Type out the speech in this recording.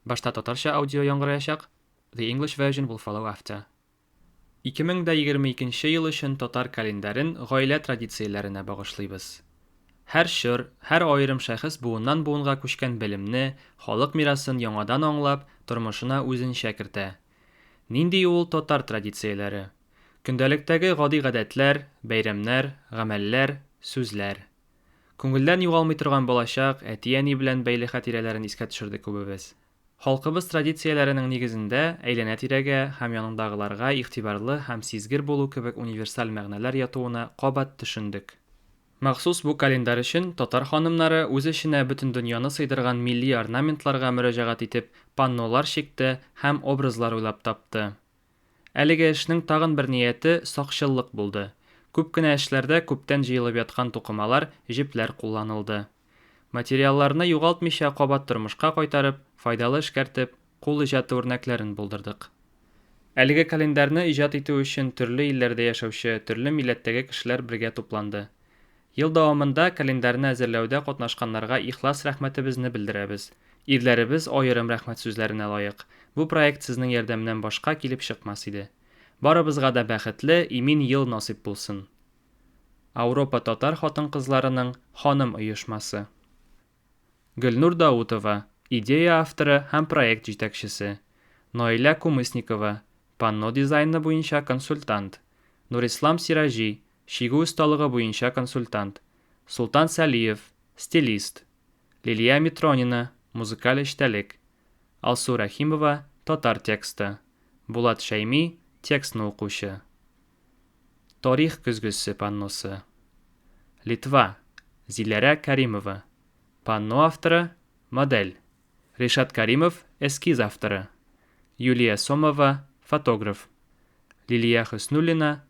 Башта татарча аудио яңгыраячак, the English version will follow after. 2022 ел өчен татар календарен гаилә традицияләренә багышлыйбыз. Һәр чор, һәр аерым шәхес буыннан-буынга күчкән белемне, халык мирасын яңадан аңлап, тормышына үзенчә кертә. Нинди ул татар традицияләре? Көндәлектәге гади гадәтләр, бәйрәмнәр, гамәлләр, сүзләр. Күңелдән югалмый торган балачак, әти-әни белән бәйле хатирәләрен искә төшерде күбебез. Халкыбыз традицияләренең нигезендә әйләнә-тирәгә һәм яныңдагыларга игътибарлы һәм сизгер булу кебек универсаль мәгънәләр ятуына кабат төшендек. Махсус бу календарь өчен татар ханымнары үз эченә бөтен дөньяны сыйдырган милли орнаментларга мөрәҗәгать итеп, паннолар чикте һәм образлар уйлап тапты. Әлеге эшнең тагын бер нияте, сакчыллык булды. Күп кенә эшләрдә күптән җыелып яткан тукымалар, җепләр кулланылды. Материалларны югалтмыйча кабат тормышка кайтарып, файдалы эшкәртеп, кул иҗаты үрнәкләрен булдырдык. Әлеге календарьны иҗат итү өчен төрле илләрдә яшәүче, төрле милләттәге кешеләр бергә тупланды. Ел дәвамында календарьны әзерләүдә катнашканнарга ихлас рәхмәтебезне белдерәбез. Ирләребез аерым рәхмәт сүзләренә лаек. Бу проект сезнең ярдәмнән башка килеп чыкмас иде. Барыбызга да бәхетле, имин ел насыйп булсын! Ауропа татар хатын-кызларының Ханым оешмасы. Гөлнур Даутова, идея авторы һәм проект җитәкчесе. Наилә Кумысникова, панно дизайны буенча консультант. Нурислам Сираҗи, чигү осталыгы буенча консультант, Солтан Сәлиев, стилист, Лилия Митронина, музыкаль эчтәлек, Алсу Рәхимова, татар тексты, Булат Шәйми, текстны укучы. Тарих көзгесе панносы. Литва, Зиләрә Кәримова, панно авторы, модель, Ришат Кәримов, эскиз авторы, Юлия Сомова, фотограф, Лилия Хөснуллина,